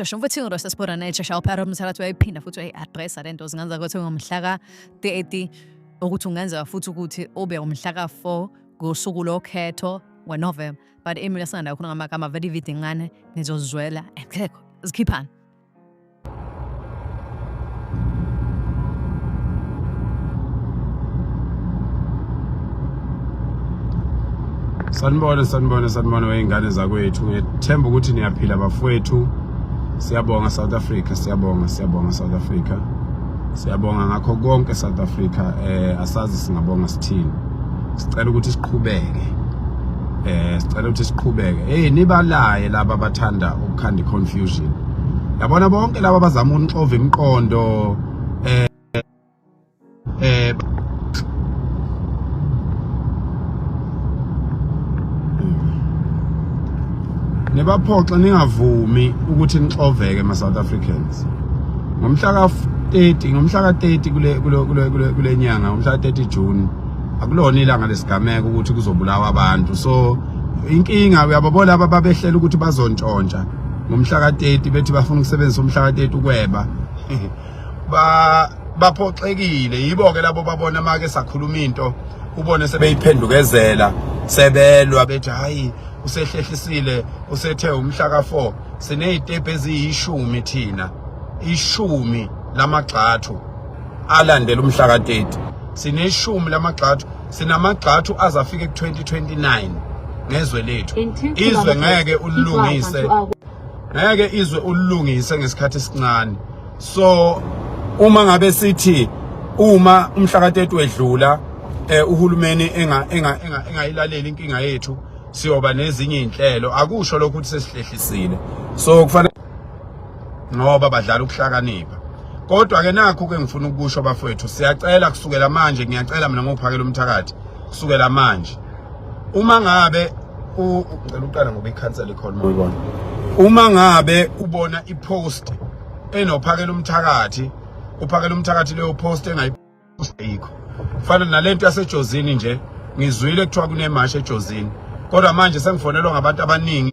sheshe mfethu ingiro sesibona naye shesha uphara umthakathi wayiphina futhi wayi-adressa le nto zingenza ukuthi ngomhlaka 30 ukuthi ungenzeka futhi ukuthi ube umhlaka 4 ngosuku lokhetho wenovemba but emina singanda khona ngamagama very vide ngane nizozizwela ekekho zikhiphana sanibona sanibona sanibona wey'ngane zakwethu ngethemba ukuthi niyaphila bafowethu siyabonga south africa siyabonga siyabonga south africa Siyabonga ngakho konke South Africa eh asazi singabonga sithini. Sicela ukuthi siqhubeke. Eh sicela ukuthi siqhubeke. Hey nibalaye laba bathanda ukukhanda confusion. Yabona bonke laba bazama unixova imiqondo eh eh Nebaphoxa ningavumi ukuthi nixoveke ma South Africans. ngomhla ka 30 ngomhla ka 30 kule kule kule kule nyanga ngomhla ka 30 June akulona ilanga lesigameko ukuthi kuzobulawa abantu so inkinga uyababona laba babehlela ukuthi bazontshontsha ngomhla ka 30 bethi bafuna ukusebenzisa umhla ka 30 ukweba ba baphoxekile yibo ke labo babona make sakhuluma into ubone sebeyiphendukezela sebelwa bethi hayi usehlehlisile usethe umhla ka 4 sinezitepe eziyishumi thina ishumi lamagxathu alandela umhlaka 30 sineshumi lamagxathu sinamagxathu azafika ku-2029 ngezwe lethu izwe ngeke ulilungise ngeke izwe ulilungise ngesikhathi esincane so uma ngabe sithi uma umhlaka 30 wedlula eh uhulumeni enga enga engayilaleli inkinga yethu siyoba nezinye izinhlelo akusho lokho ukuthi sesihlehlisile so kufanele ngoba badlala ukuhlakanipha kodwa ke nakho ke ngifuna ukusho bafowethu siyacela kusukela manje ngiyacela mina ngophakela umthakathi kusukela manje uma ngabe ngicela uqala ngoba ikhansela ikhona uyibona uma ngabe ubona ipost enophakela umthakathi uphakela umthakathi leyo post engayi ayikho fana nalento yasejozini nje ngizwile kuthiwa kunemashi ejozini kodwa manje sengifonelwa ngabantu abaningi